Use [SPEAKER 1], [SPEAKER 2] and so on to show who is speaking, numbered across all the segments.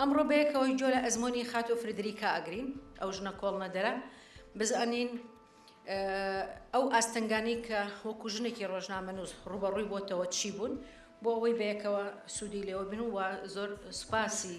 [SPEAKER 1] ئەمڕۆ بەیەکەوەی جۆ لە ئەزمۆنی خاتۆ فردریکا ئەگرین ئەو ژنە کۆڵنەدەرە بزانین ئەو ئاستنگانی کە وەکو ژنێکی ڕۆژنامەنووس ڕوبەڕووی بۆتەوە چی بوون بۆ ئەوەی بەیەکەوە سوودی لێوە بن و زۆر سوپاسی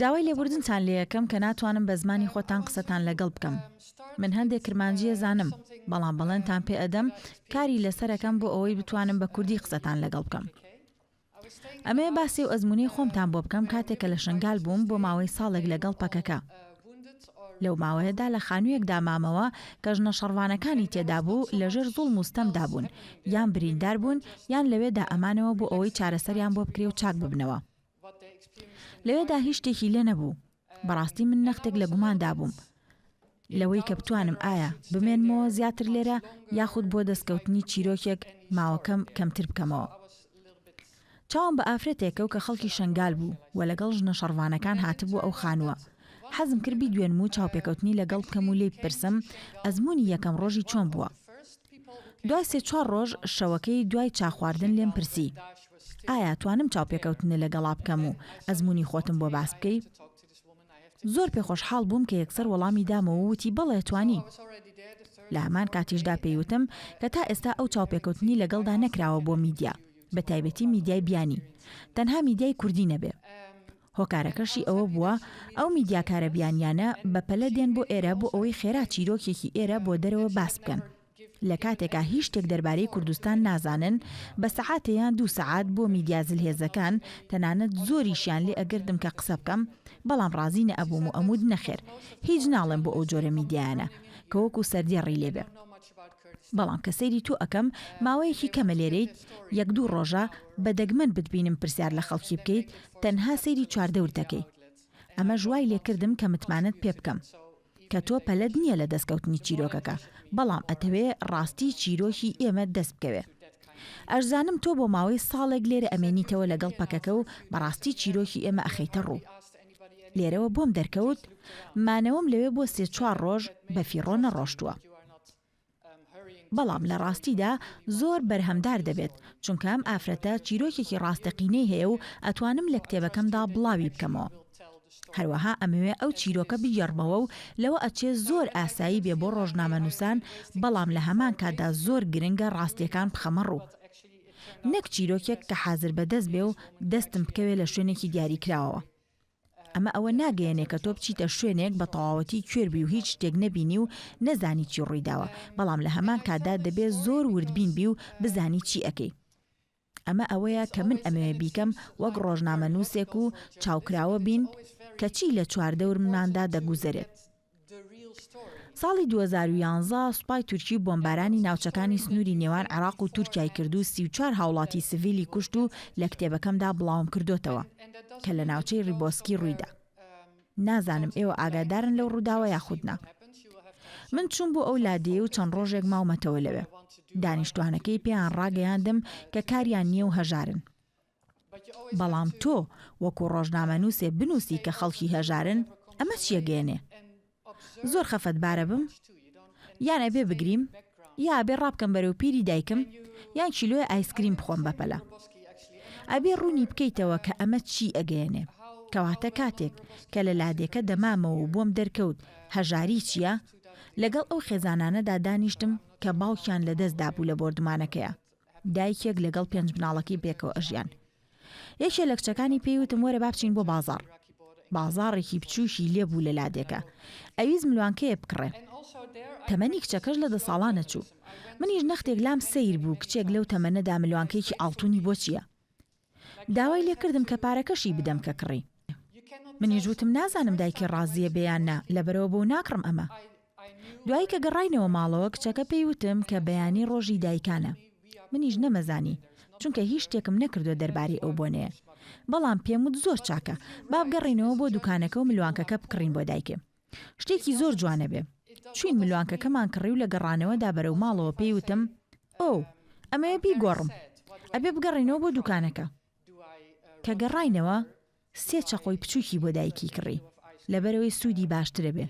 [SPEAKER 2] داوای لێبوردنتان
[SPEAKER 3] لێەکەم کە ناتوانم بە زمانی خۆتان قسەتان لەگەڵ بکەم من هەندێ کرمانجی ئەزانم بەڵام بەڵێنتان پێ ئەدەم کاری لەسەرەکەم بۆ ئەوەی بتوانم بە کوردی قسەتان لەگەڵ بکەم ئەمێ باسی و ئەزمونی خۆمتان بۆ بکەم کاتێک کە لە شنگال بووم بۆ ماوەی ساڵێک لەگەڵ پەکەکە لەو ماوەیەدا لە خانوویەکدا مامەوە کە ژنە شەڕوانەکانی تێدا بوو لەژێر زوڵ موستەمدا بوون یان بریندار بوون یان لەوێدا ئەمانەوە بۆ ئەوەی چارەسەریان بۆ بکرێ و چاک ببنەوە لەوێدا هیچ شتێکی لێ نەبوو. بەڕاستی من نەختێک لە گوماندا بووم لەوەی کە بتوانم ئایا بمێنمەوە زیاتر لێرە یاخود بۆ دەستکەوتنی چیرۆکێک ماوەکەم کەمتر بکەمەوە. چاوم بە ئافرەتێک کەوت کە خەڵکی شەنگال بوو و لەگەڵ ژنە شەڕڤانەکان هاتبوو ئەو خانووە. حەزم کرد بیدوێنم و چاوپێکەوتنی لەگەڵ بکەم و لێی بپرسم ئەزموونی یەکەم ڕۆژی چۆن بووە. دوای سێ چوار ڕۆژ شەوەکەی دوای چا خواردن لێم پرسی. ئایا توانم چاوپێکەوتنە لە گەڵا بکەم و ئەزموونی خۆتم بۆ باس بکەی؟ زۆر پێخۆشحاڵ بووم کە یەکسەر وەڵامی دامەوە و وتی بەڵێ توانی. لە هەمان کاتیشدا پێی وتم کە تا ئێستا ئەو چاوپێکەوتنی لە گەڵدا نەکراوە بۆ میدیا، بە تایبەتی میدیای بیانی، تەنها میدیای کوردی نەبێ. هۆکارەکەشی ئەوە بووە ئەو میدیاکارە بیانییانە بە پەلە دێن بۆ ئێرە بۆ ئەوەی خێرا چیرۆکێکی ئێرە بۆ دەرەوە باس بکەن. لە کاتێکا هیچ شتێک دەربارەی کوردستان نازانن، بە سەعاتێ یان دوو سەعات بۆ میدیا زلهێزەکان، تەنانەت زۆریشیان لێ ئەگردم کە قسە بکەم، بەڵام ڕازی نەئەبووم و ئەموت نەخێر، هیچ ناڵێم بۆ ئەو جۆرە میدیایانە، کە وەکو سەردێڕی لێ بێ. بەڵام کە سەیری تۆ ئەکەم، ماوەیەکی کەمە لێرەیت، یەک دوو ڕۆژە، بە دەگمەن بتبینم پرسیار لە خەڵکی بکەیت، تەنها سەیری چواردەور دەکەی. ئەمەش وای لێ کردم کە متمانەت پێ بکەم. کە تۆ پەلەت نیە لە دەستکەوتنی چیرۆکەکە بەڵام ئەتەوێ ڕاستی چیرۆکی ئێمە دەست بکەوێ ئەشزانم تۆ بۆ ماوەی ساڵێک لێرە ئەمێنیتەوە لەگەڵ پەکەکە و بەڕاستی چیرۆکی ئێمە ئەخەیتە ڕوو لێرەوە بۆم دەرکەوت مانەوەم لەوێ بۆ سێ چوار ڕۆژ بەفیڕۆ نەڕۆشتووە. بەڵام لە ڕاستیدا زۆر بەرهەمدار دەبێت، چونکە ئەم ئافرەتە چیرۆکێکی ڕاستەقینەی هەیە و ئەتوانم لە کتێبەکەمدا بڵاوی بکەمەوە. هەروەها ئەمەوێ ئەو چیرۆکە بگێڕمەوە و لەوە ئەچێ زۆر ئاسایی بێ بۆ ڕۆژنامەنووسان، بەڵام لە هەمان کاتدا زۆر گرنگە ڕاستییەکان بخەمە ڕوو. نەک چیرۆکێک کە حازر بەدەست بێ و دەستم بکەوێ لە شوێنێکی دیاریکراوەوە. ئەمە ئەوە ناگەیەنێ کە تۆ بچیتە شوێنێک بە تەواوەتی کوێر بی و هیچ شتێک نەبینی و نەزانی چی ڕوویداوە، بەڵام لە هەمان کاتدا دەبێ زۆر وردبین بی و بزانی چی ئەکەی. ئەمە ئەوەیە کە من ئەمەوێ بیکەم وەک ڕۆژنامەنووسێک و چاوکراوە بین کە چی لە چواردەورمماندا دەگوزەرێت. ساڵی دوو هەزار و یازدە سوپای تورکی بۆمبارانی ناوچەکانی سنووری نێوان عێراق و تورکیای کرد و سی و چوار هاوڵاتی سڤیلی کوشت و لە کتێبەکەمدا بڵاوم کردۆتەوە کە لە ناوچەی ڕیبۆسکی ڕوویدا. نازانم ئێوە ئاگادارن لەو ڕووداوە یاخود نا. من چووم بۆ ئەو لادێیە و چەند ڕۆژێک ماومەتەوە لەوێ. دانیشتوانەکەی پێیان ڕاگەیاندم کە کاریان نییە و هەژارن. بەڵام تۆ وەکو ڕۆژنامەنووسێ بنووسی کە خەڵکی هەژارن، ئەمە چی ئەگەیەنێ؟ زۆر خەفەتبارە بم؟ یان ئەبێ بگریم؟ یا ئەبێ ڕابکەم بەرەو پیری دایکم یان کیلۆیە ئایسکریم بخۆم بە پەلە؟ ئەبێ ڕوونی بکەیتەوە کە ئەمە چی ئەگەیەنێ؟ کەواتە کاتێک کە لە لادێکە دەمامەوە و بۆم دەرکەوت هەژاری چییە، لەگەڵ ئەو خێزانانەدا دانیشتم کە باوکیان لەدەستدابوو لە بۆردومانەکەیا. دایکێک لەگەڵ پێنج مناڵەکەی پێکەوە ئەژیان یەکێ لە کچەکانی پێی وتم وەرە بابچین بۆ بازار بازاڕێکی بچووکی لێبوو لە لادێکە ئەویز ملوانکەیە بکڕێ تەمەنی کچەکەش لە دە ساڵانە چوو منیش نەختێک لام سیر بوو کچێک لەو تەمەنەدا ملوانکەیەکی ئاڵتونی بۆ چییە داوای لێ کردم کە پارەکەشی بدەم کە کڕی. منیش وتم نازانم دایکی ڕازییە بێ یان نا، لەبەرئەوە بۆو ناکڕم ئەمە. دوایی کە گەڕاینەوە ماڵەوە کچەکە پێی وتم کە بەیانی ڕۆژی دایکانە. منیش نەمەزانی، چونکە هیچ شتێکم نەکردووە دەربارەی ئەو بۆنەیە. بەڵام پێم وت زۆر چاکە، با بگەڕێینەوە بۆ دوکانەکە و ملوانکەکە بکڕین بۆ دایکم. شتێکی زۆر جوانە بێ. چوین ملوانکەکەمان کڕی و لە گەڕانەوەدا بەرەو ماڵەوە پێی وتم، ئۆو، ئەمەوێ بیگۆڕم، ئەبێ بگەڕێینەوە بۆ دوکانەکە. کە گەڕاینەوە، سێ چەقۆی بچوکی بۆ دایکی کڕی، لەبەرئەوەی سوودی باشترە بێ.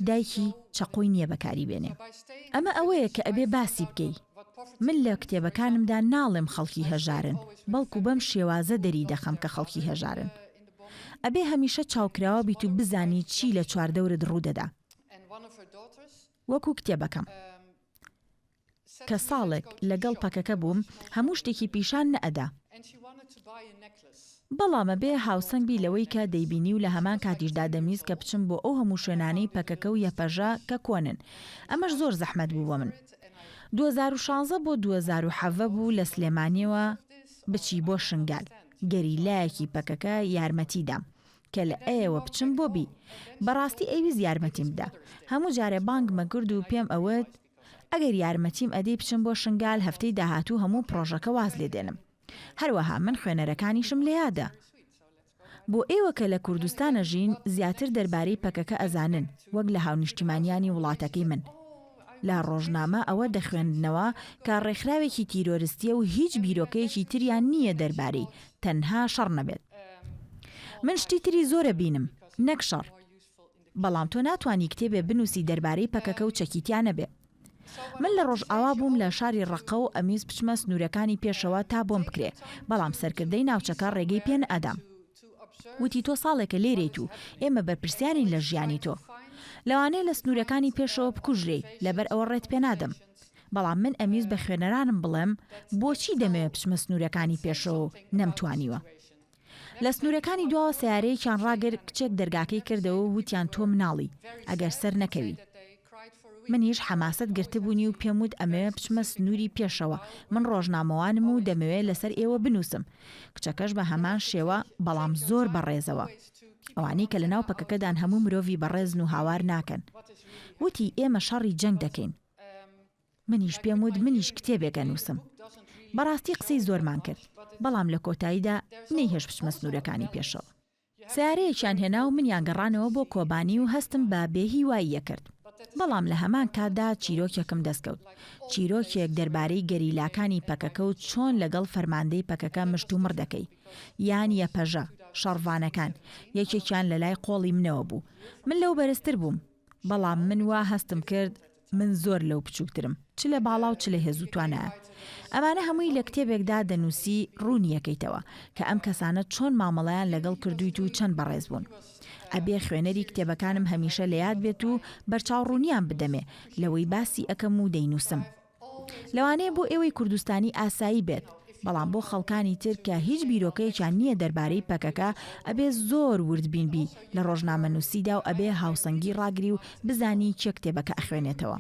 [SPEAKER 3] دایکی چەقۆی نییە بەکاری بێنێ. ئەمە ئەوەیە کە ئەبێ باسی بکەی. من لە کتێبەکانمدا ناڵێم خەڵکی هەژارن، بەڵکو بەم شێوازە دەری دەخەم کە خەڵکی هەژارن. ئەبێ هەمیشە چاوکراوە بیت و بزانی چی لە چواردەورت ڕوودەدا. وەکو کتێبەکەم. کە ساڵێک لەگەڵ پەکەکە بووم هەموو شتێکی پیشان نەئەدا. بەڵام ئەبێ هاوسەنگ بی لەوەی کە دەیبینی و لە هەمان کاتیشدا دەمویست کە بچم بۆ ئەو هەموو شوێنانەی پەکەکە و یەپەژە کە کۆنن. ئەمەش زۆر زەحمەت بوو بۆ من. دووەزاروشانزە بۆ دووەزاروحەڤە بوو لە سلێمانیەوە بچی بۆ شنگال. گەریلایەکی پەکەکە یارمەتی دام کە لە ئەیەوە بچم بۆ بی. بەڕاستی ئەیویست یارمەتیم بدا. هەموو جارێ بانگمە کرد و پێم ئەوت ئەگەر یارمەتیم ئەدەی بچم بۆ شنگال هەفتەی داهاتوو هەموو پڕۆژەکە واز لێ دێنم. هەروەها من خوێنەرەکانیشم لە یادە. بۆ ئێوە کە لە کوردستان ئەژین زیاتر دەربارەی پەکەکە ئەزانن وەک لە هاونیشتیمانیانی وڵاتەکەی من. لە ڕۆژنامە ئەوە دەخوێندنەوە کە ڕێکخراوێکی تیرۆرستیە و هیچ بیرۆکەیەکی تریان نییە دەربارەی تەنها شەڕ نەبێت. من شتی تری زۆر ئەبینم نەک شەڕ. بەڵام تۆ ناتوانی کتێبێ بنووسی دەربارەی پەکەکە و چەکی تیا نەبێ. من لە ڕۆژئاوا بووم لە شاری ڕەققە و ئەمویست بچمە سنوورەکانی پێشەوە تا بۆم بکرێ، بەڵام سەرکردەی ناوچەکە ڕێگەی پێ نەئەدام. وتی تۆ ساڵێکە لێرەیت و ئێمە بەرپرسیارین لە ژیانی تۆ. لەوانەیە لە سنوورەکانی پێشەوە بکوژرێی، لەبەر ئەوە ڕێت پێنادەم. بەڵام من ئەمویست بە خوێنەرانم بڵێم بۆچی دەمەوێت بچمە سنوورەکانی پێشەوە و نەمتوانیوە. لە سنوورەکانی دواوە سەیارەیەکیان ڕاگرت، کچێک دەرگاکەی کردەوە و وتیان تۆ مناڵی، ئەگەر سەرنەکەوی. منیش حەماسەت گرتبوونی و پێم وت ئەمەوێ بچمە سنووری پێشەوە، من ڕۆژنامەوانم و دەمەوێ لەسەر ئێوە بنووسم. کچەکەش بە هەمان شێوە، بەڵام زۆر بە ڕێزەوە. ئەوانەی کە لەناو پەکەکەدان هەموو مرۆڤی بەڕێزن و هاوار ناکەن. وتی ئێمە شەڕی جەنگ دەکەین. منیش پێم وت منیش کتێبێک ئەنووسم. بەڕاستی قسەی زۆرمان کرد، بەڵام لە کۆتاییدا نەیهێشت بچمە سنوورەکانی پێشەوە. سەیارەیەکیان هێنا و منیان گەڕانەوە بۆ کۆبانی و هەستم بە بێ هیواییە کرد. بەڵام لە هەمان کاتدا چیرۆکێکم دەست کەوت. چیرۆکێک دەربارەی گەریلاکانی پەکەکە و چۆن لەگەڵ فەرماندەی پەکەکە مشتومڕ دەکەی. یان یەپەژە، شەڕڤانەکان، یەکێکیان لە لای قۆڵی منەوە بوو. من لەو بەرزتر بووم. بەڵام من وا هەستم کرد. من زۆر لەو بچووکترم، چ لە باڵا و چ لە هێز و توانایە. ئەمانە هەمووی لە کتێبێکدا دەنووسی، ڕوونی ئەکەیتەوە، کە ئەم کەسانە چۆن مامەڵەیان لەگەڵ کردوویت و چەند بەڕێز بوون. ئەبێ خوێنەری کتێبەکانم هەمیشە لە یاد بێت و بەرچاوڕوونییان بدەمێ، لەوەی باسی ئەکەم و دەینووسم. لەوانەیە بۆ ئێوەی کوردستانی ئاسایی بێت، بەڵام بۆ خەڵکانی تر کە هیچ بیرۆکەیەکیان نییە دەربارەی پەکەکە، ئەبێ زۆر وردبین بی لە ڕۆژنامەنووسیدا و ئەبێ هاوسەنگی ڕاگری و بزانی کێ کتێبەکە ئەخوێنێتەوە.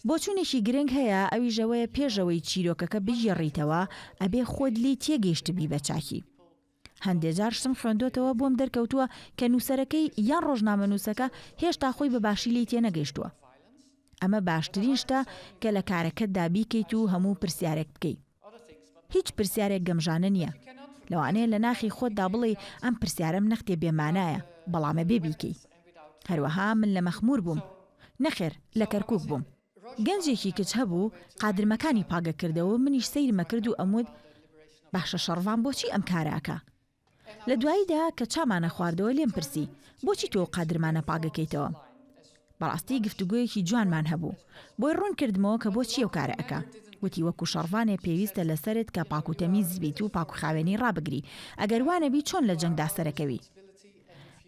[SPEAKER 3] بۆچوونێکی گرنگ هەیە، ئەویش ئەوەیە پێش ئەوەی چیرۆکەکە بگێڕیتەوە، ئەبێ خۆت لێی تێگەیشتبی بە چاکی. هەندێ جار شتم خوێندۆتەوە بۆم دەرکەوتووە کە نووسەرەکەی یان ڕۆژنامەنووسەکە هێشتا خۆی بە باشی لێی تێنەگەیشتووە. ئەمە باشترین شتە کە لە کارەکەتدا بیکەیت و هەموو پرسیارێک بکەی. هیچ پرسیارێک گەمژانە نییە. لەوانەیە لە ناخی خۆتدا بڵێی ئەم پرسیارەم نەختێ بێمانایە، بەڵام ئەبێ بیکەی. هەروەها من لە مەخموور بووم. نەخێر، لە کەرکووک بووم. گەنجێکی کچ هەبوو قادرمەکانی پاگە کردەوەو منیش سەیرم ئەکرد و ئەموت باشە شەڕڤان بۆچی ئەم کارە ئەکا؟ لە دواییدا کە چامانە خواردەوە لێم پرسی بۆچی تۆ قادرمانە پاگەکەیتەوە؟ بەڕاستی گفتوگۆیەکی جوانمان هەبوو بۆی ڕوون کردمەوە کە بۆچی ئەو کارە ئەکا وتی وەکو شەڕڤانێ پێویستە لە سەرت کە پاکوتەمیز بیت و پاکوخاوێنی ڕابگری ئەگەر وانەبی چۆن لە جەنگدا سەرەکەوی؟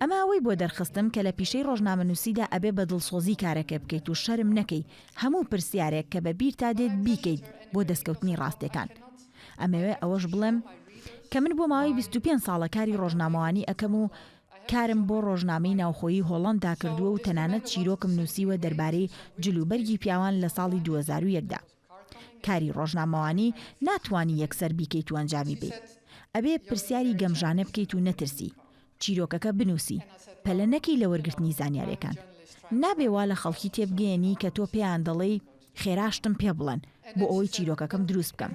[SPEAKER 3] ئەمە ئەوەی بۆ دەرخستم کە لە پیشەی ڕۆژنامەنووسیدا ئەبێ بە دڵسۆزی کارەکە بکەیت و شەرم نەکەی هەموو پرسیارێک کە بە بیرتا دێت بیکەیت بۆ دەستکەوتنی ڕاستێکان. ئەمەوێ ئەوەش بڵێم کە من بۆ ماوەی بیست و پێنج ساڵە کاری ڕۆژنامەوانی ئەکەم و کارم بۆ ڕۆژنامەی ناوخۆیی هۆڵەندا کردووە و تەنانەت چیرۆکم نووسیوە دەربارەی جلوبەرگی پیاوان لە ساڵی دوو هەزار و یەک دا. کاری ڕۆژنامەوانی ناتوانی یەکسەر بیکەیت و ئەنجامی بەیت ئەبێ پرسیاری گەمژانە بکەیت و نەترسی چیرۆکەکە بنوسی پەلە نەکەی لە وەرگرتنی زانیارێکان نابێ وا لە خەڵکی تێبگەیەنی کە تۆ پێیان دەڵێی خێرا شتم پێ بڵێن بۆ ئەوەی چیرۆکەکەم دروست بکەم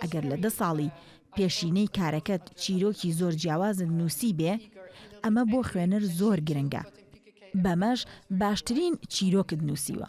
[SPEAKER 3] ئەگەر لە دە ساڵی پێشینەی کارەکەت چیرۆکی زۆر جیاوازت نوسی بێ ئەمە بۆ خوێنەر زۆر گرنگە بەمەش باشترین چیرۆکت نوسیوە.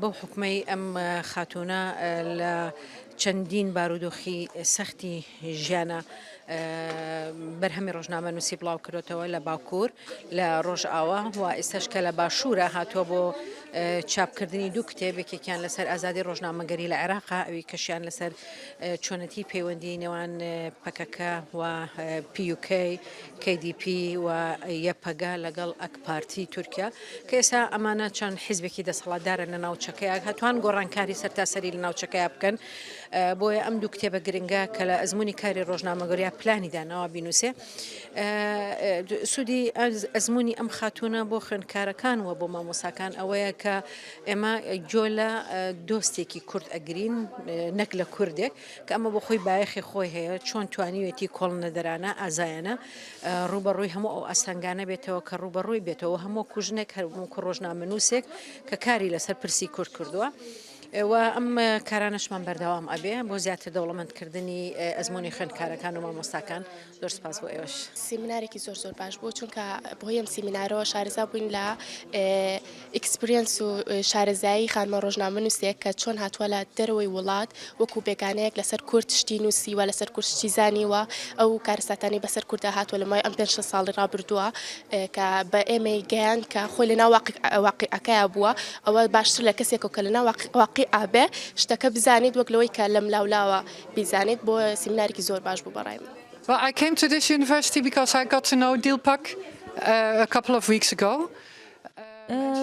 [SPEAKER 1] بەو حوکمەی ئەم خاتوونە لە چەندین بارودۆخی سەختی ژیانە بەرهەمی ڕۆژنامە نووسی بڵاو کردوتەوە لە باکوور لە ڕۆژئاوا و ئێستش کە لە باشوورە هاتووە بۆ چاپکردنی دوو کتێبێکێکیان لەسەر ئازادی ڕۆژنامەگەری لە عێراق ئەوی کەشیان لەسەر چۆنەتی پەیوەندی نێوان پەکەکە و پیوکەی کەیدیپی و یەپەگا لەگەڵ ئەک پارتی تورکیا، کە ئێستا ئەمانە چەند حیزبێکی دەسەڵاتدارن لە ناوچەکەیا، هەتوان گۆڕانکاری سەرتاسەری لە ناوچەکەیا بکەن، بۆیە ئەم دوو کتێبە گرنگە کە لە ئەزموونی کاری ڕۆژنامەگەریا پلانی داناوە بینووسێ. سوودی ئەزموونی ئەم خاتوونە بۆ خوێندکارەکان و بۆ مامۆستاکان ئەوەیە کە ئێمە گوێ لە دۆستێکی کورد ئەگرین نەک لە کوردێک، کە ئەمە بۆ خۆی بایەخی خۆی هەیە، چۆن توانیوێتی کۆڵنەدەرانە، ئازایانە، ڕووبەڕووی هەموو ئەو ئاستەنگانە بێتەوە کە ڕووبەڕووی بێتەوە و هەموو وەکوو ژنێک هەر وەکوو ڕۆژنامەنووسێک کە کاری لەسەر پرسی کورد کردووە. و ئەم کارانەشمان بەردەوام ئەبێ بۆ زیاتر دەوڵەمەندکردنی ئەزمموی خوێندکارەکان و مامۆستاکان زۆر سپاس بۆ ئێوەش سیمینارێکی زۆر زۆر
[SPEAKER 4] باش بوو چونکە بۆ یەم سیمینارەوە شارزا بووین لە ئیکسپریەنس و شارەزایی خانمە ڕۆژنامەنووسێک کە چۆن هاتووە لە دەرەوەی وڵات وەکو بێگانەیەک لەسەر کورد شتی نووسیوە لەسەر کورد شتی زانیوە ئەو کارەساتانەی بەسەر کوردا هاتووە لە مای ئەم پێنج شەست ساڵی ڕابردووە کە بە ئێمەی گەیاند کە خۆی لە ناو واقیعەکەیا بووە ئەوە باشتر لە کەسێک و کە لە ناو واقیعا بێ شتەکە بزانیت وەک لەوەی کە لەم لاولاوە بیزانیت بۆ سیمینارێکی زۆر باش بوو بە ڕای من. Well I came to this
[SPEAKER 2] university because I got to know Dilpak a couple of weeks ago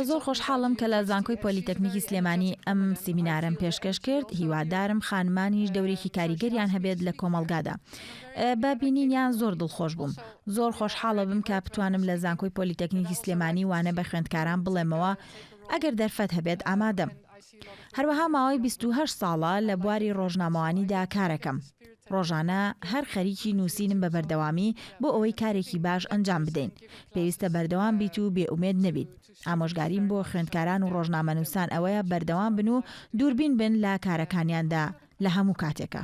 [SPEAKER 3] زۆر خۆشحاڵم کە لە زانکۆی پۆلیتەکنیکی سلێمانی ئەم سیمینارەم پێشکەش کرد هیوادارم خانمانیش دەورێکی کاریگەریان هەبێت لە کۆمەڵگادا بە بینینیان زۆر دڵخۆش بووم زۆر خۆشحاڵە بم کە بتوانم لە زانکۆی پۆلیتەکنیکی سلێمانی وانە بە خوێندکاران بڵێمەوە ئەگەر دەرفەت هەبێت ئامادەم هەروەها ماوەی 28 ساڵە لە بواری ڕۆژنامەوانیدا کارەکەم ڕۆژانە هەر خەریکی نووسینم بە بەردەوامی بۆ ئەوەی کارێکی باش ئەنجام بدەین. پێویستە بەردەوام بیت و بێ ئومێد نەبیت. ئامۆژگاریم بۆ خوێندکاران و ڕۆژنامەنووسان ئەوەیە بەردەوام بن و دووربین بن لە کارەکانیاندا لە هەموو کاتێکا.